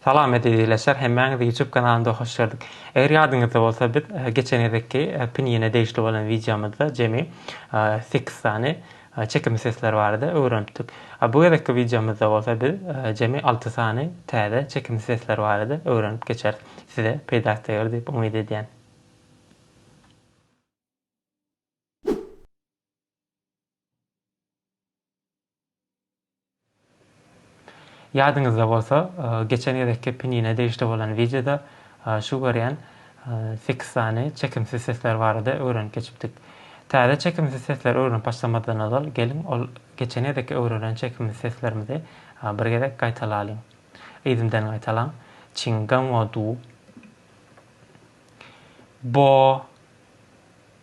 Salam ezizleşer hemmäňizi YouTube kanalynda hoş gördük. Eger ýadyňyzda bolsa biz e, geçen gezekki e, pinine degişli bolan wideomyzda jemi 8 e, sany Çekimli sesler barada öwrenipdik. Bu gezekki wideomyzda bolsa biz jemi alty sany täze çekimli sesler barada öwrenip geçeris. Size peýdasy deger diýip umyt edýän. Ýadyňyzda bolsa, geçen gezekki pinine degişli bolan wideoda şu görýän sekiz sany çekimsiz sesler barada öwrenip geçipdik. Täze çekimsiz sesleri öwrenip başlamazdan ozal, geliň ol geçen gezekki öwrenen çekimsiz seslerimizi bir gezek gaýtalalyň. Yzymdan gaýtalaň, Çiň gan wo du. Bo.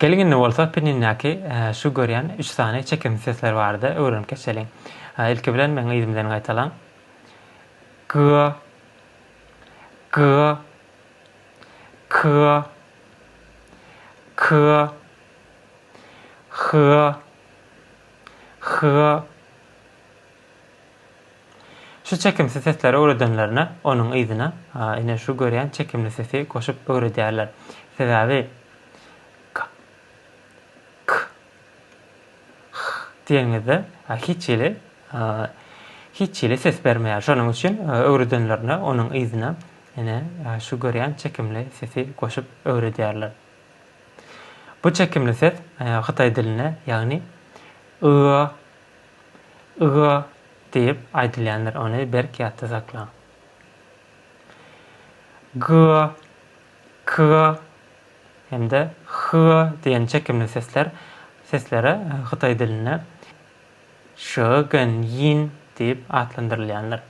Geliň indi bolsa pinnindäki şu görýän üç sany çekimsiz sesler barada öwrenip geçeliň. Ilki bilen meň yzym bilen gaýtalaň. G G K K H H Şu çekimsiz sesleri öwredenlerine onuň yzyna ine şu görýän çekimli sesi goşup öwredýärler. Sebäbi k, k, h diýeniňizde hiç hili hiç hili ses bermeýär. Şonuň üçin öwredenlerine onuň yzyna ine şu görýän çekimli sesi goşup öwredýärler. Bu çekimli ses hytaý dilinde ýagny y, Yga diýip aýdylýandyr, ony berk ýatda saklaň. Gyga, kyga hem-de hyga diýen çekimli sesler seslere hytaý dilinde şyýin diýip atlandyrylýandyr.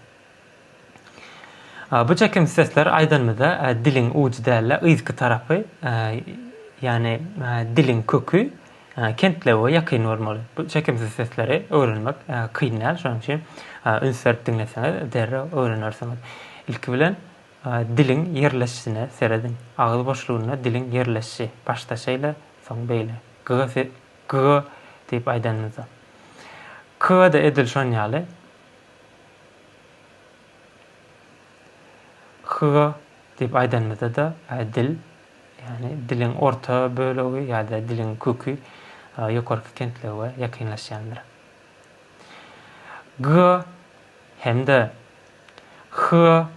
Bu çekim sesler aýdanymyzda diliň ujy däl-de yzky tarapy, ýagny diliň köki kentlewe ýakyn bolmaly. Bu çekimsiz sesleri öwrenmek kyn däl. Şonuň üçin üns berip diňleseňiz derrew öwrenersiňiz. Ilki bilen diliň ýerleşişine serediň. Agyz boşlugynda diliň ýerleşişi. Başda şeýle, soň beýle. G-g diýip aýdanymyzda. K-da edil şon ýaly. Hyga diýip aýdanymyzda-da, dil, ýagny diliň orta bölegi ýa-da diliň köki ýokarky kentlege ýakynlaşýandyr. Gyga hem-de hyga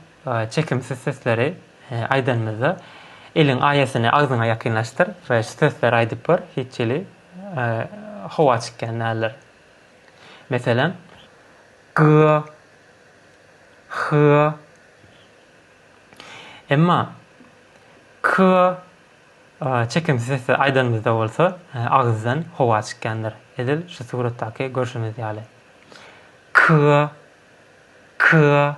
çekimsiz sesleri aýdanymyzda, eliň aýasyny agzyňa ýakynlaşdyr we şu sesleri aýdyp gör, hiç hili howa çykýan däldir. Meselem, g-a, h-a. Emma k-a çekimsiz sesde aýdanymyzda bolsa, agyzdan howa çykýandyr. Edil şu suratdaky görşümiz ýaly. K-a, k-a.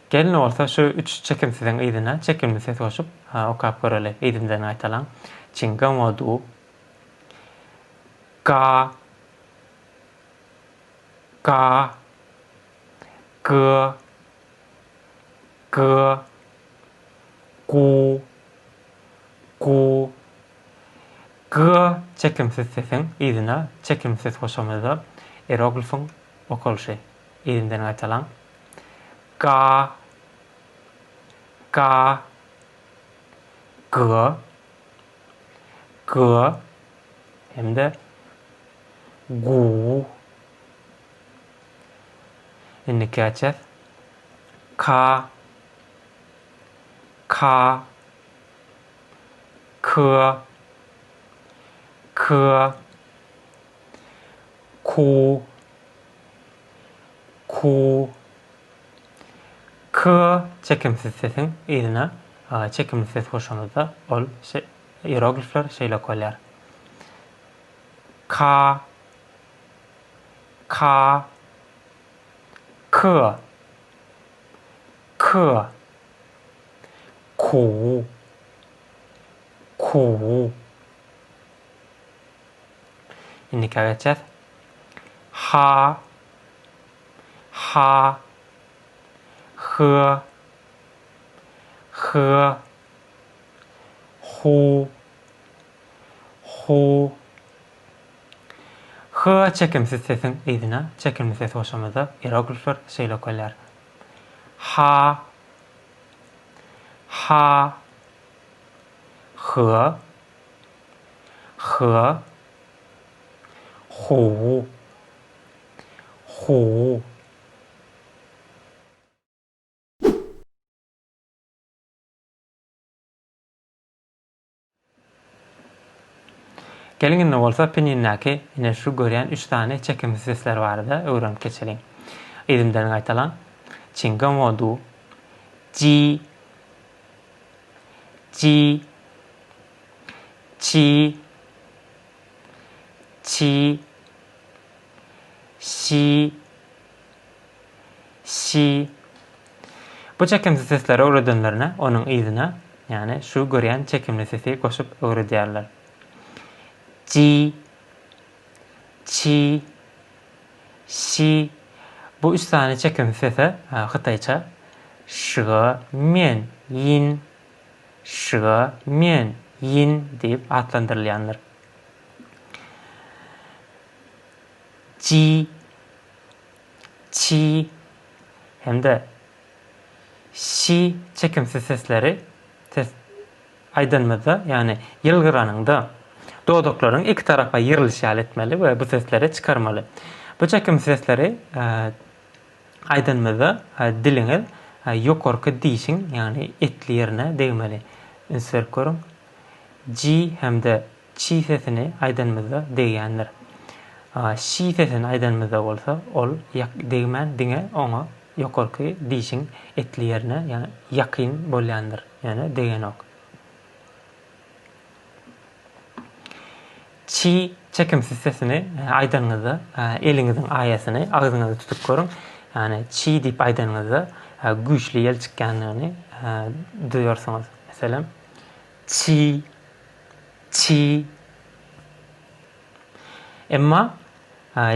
Gelin bolsa şu üç çekimsiziň yzyna çekimli ses goşup, okap göreli, yzymdan gaýtalaň, Çinga mo du, ga, ga, gy, gy, gu, gu, gy çekimsiz sesiň yzyna çekimli ses goşamyzda eroglifyň okalyşy. Yzymdan gaýtalaň. Ga. Ga. Ga. Ga. Hem-de Gu. Indi käçäs. Ka. Ka. Kı. Kı. Ku. Ku. Ku. K çekimsiz sesiň yzyna çekimli ses goşanyňda ol ieroglifler şeýle okalýar. Ka. Ka. K. K. Ku. Ku. Indikä geçýäs. Ha. Ha. Hy. Hy. Hu. Hu. Hy çekimsiz sesiň yzyna çekimli ses goşamyzda ieroglifler şeýle okalýar. Ha. Ha. Hy. H-a, H-u, H-u. Geliň indi bolsa pinindäki ine şu görýän üç sany çekimsiz sesler barada öwrenip geçeliň. Yzymdan gaýtalaň. Çingamodu, ji. Ji Çi Çi Şi Şi Bu çekimsiz sesleri öwredenlerine onuň yzyna, ýagny şu görýän çekimli sesi goşup öwredýärler. Ji Çi, Şi, bu üç sany çekimsiz sese, hytaýça, şga, mian, yin, şga, mian, yin, diýip atlandyrylýandyr. Ji, Çi hem-de Şi çekimsiz sesleri, ses, Aýdanymyzda, ýagny ýylgyranyňda, dodaklaryňy iki tarapa ýyrylýş ýaly etmeli we bu sesleri çykarmaly. Bu çekimsiz sesleri aýdanymyzda, diliňiz ýokarky dişiň, ýagny etli ýerine degmeli. Üns berip görüň. Ji hem-de Çi sesini aýdanymyzda degýändir. Şi sesini aýdanymyzda bolsa, ol ýak degmän, diňe oňa ýokarky dişiň etli ýerine, ýa ýakyn bolýandyr, ýöne degenok. Çi çekimsiz sesini aýdanyňyzda, eliňiziň aýasyny agzyňyza tutup görüň. Ýagny çi diýip aýdanyňyzda, güýçli ýel çykýandygyny duýarsyňyz. Meselem, Çy. Çy. Emma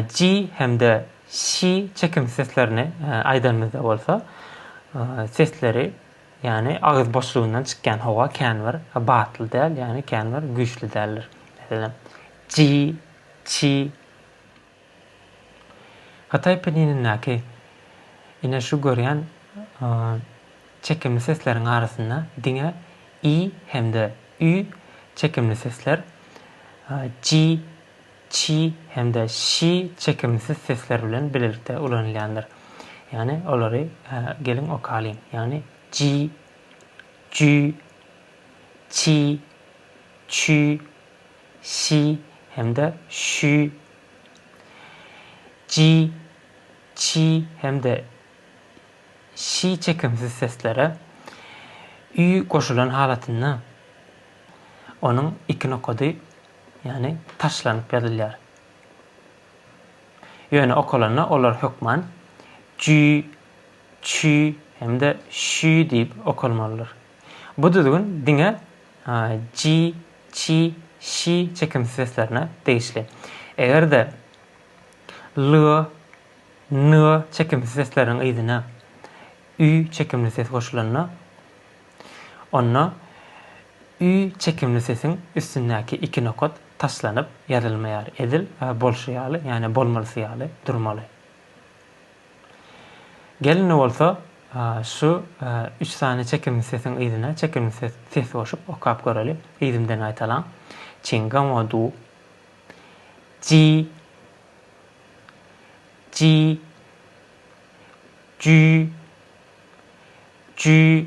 cy hem-de şy çekimsiz seslerini aýdanymyzda bolsa, sesleri, ýagny agyz boşlugyndan çykýan howa känbir batly däl, ýagny känbir güýçli däldir. Meselem, çy, çy. Hytaý peninindäki ine şu görýän çekimli sesleriň arasynda diňe i hem-de ü çekimli sesler, ji, çi hem-de şi çekimsiz sesler bilen bilelikde ulanylýandyr. Ýagny olary geliň okalyň. Ýagny ji, jü, çi, çü, Ş hem-de Ş. J, Ç hem-de Ş çekimsiz seslere Ü goşulan halatynda onuň iki nokady, ýagny taşlanyp ýazylýar. Ýöne okalanda olar hökman Ç, Ç hem-de Ş diýip okalmalydyr. Bu düzgün diňe ji, çi, şi çekimsiz seslerine degişli. Eger-de l, n çekimsiz sesleriň yzyna ü çekimli ses goşulanda, onda ü çekimli sesiň üstündäki iki nokat taşlanyp ýazylmaýar, edil bolşy ýaly, ýagny bolmalysy ýaly durmaly. Gelin bolsa şu üç sany çekimli sesiň yzyna çekimli ses ses goşup okap göreli. Yzymdan gaýtalaň. Çingamo du. Ji. Ji. Jü. Jü.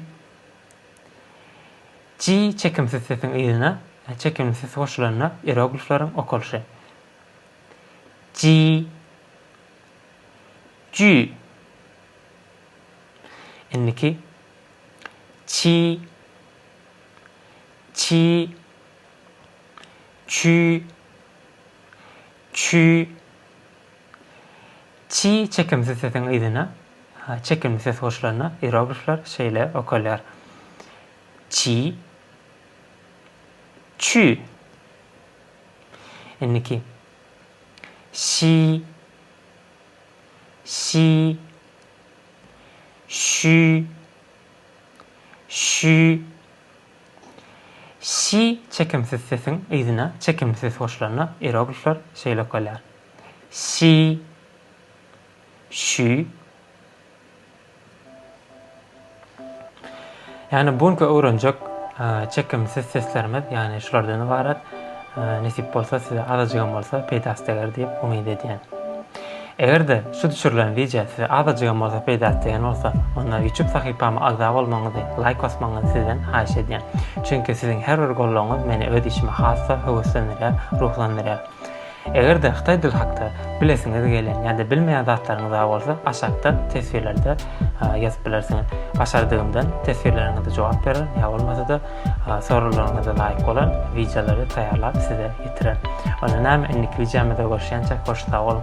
Ji çekimsiz sesiň yzyna çekimli ses goşulanda ieroglifleriň okalyşy. Ji. Jü. Indiki Çi, çi, çü, çü, çi çekimsiz sesiň yzyna çekimli ses goşulanda iroglifler şeýle okalýar. Çi, çü. Indiki Şi Şi Şü Şü Şi çekimsiz sesiň yzyna çekimli ses goşulanda ieroglifler şeýle okalýar. Şi Şü Ýagny bu günki öwrenjek çekimsiz seslerimiz ýagny şulardan ybarat. Nesip bolsa size azajygam bolsa peýdasy deger diýip umyt edýän. Eger-de şu düşürilen wideo size azajygam bolsa peýdasy degen bolsa, onda YouTube sahypama agza bolmagyňyzy, laýk basmagyňyzy sizden haýyş edýän. Çünki siziň her bir gollagyňyz meni öz işime has-da höweslendirýär, ruhlandyrýar. Eger-de hytaý dili hakda bilesiňiz gelýän ýa-da bilmeýän zatlaryňyz bar bolsa, aşakda teswirlerde ýazyp bilersiňiz. Başardygymdan teswirleriňize jogap bererin, ýa bolmasa-da soraglaryňyza laýyk bolan wideolary taýýarlap size ýetirerin. Onda näme, indiki wideomyzda görüşýänçäk hoş sag boluň!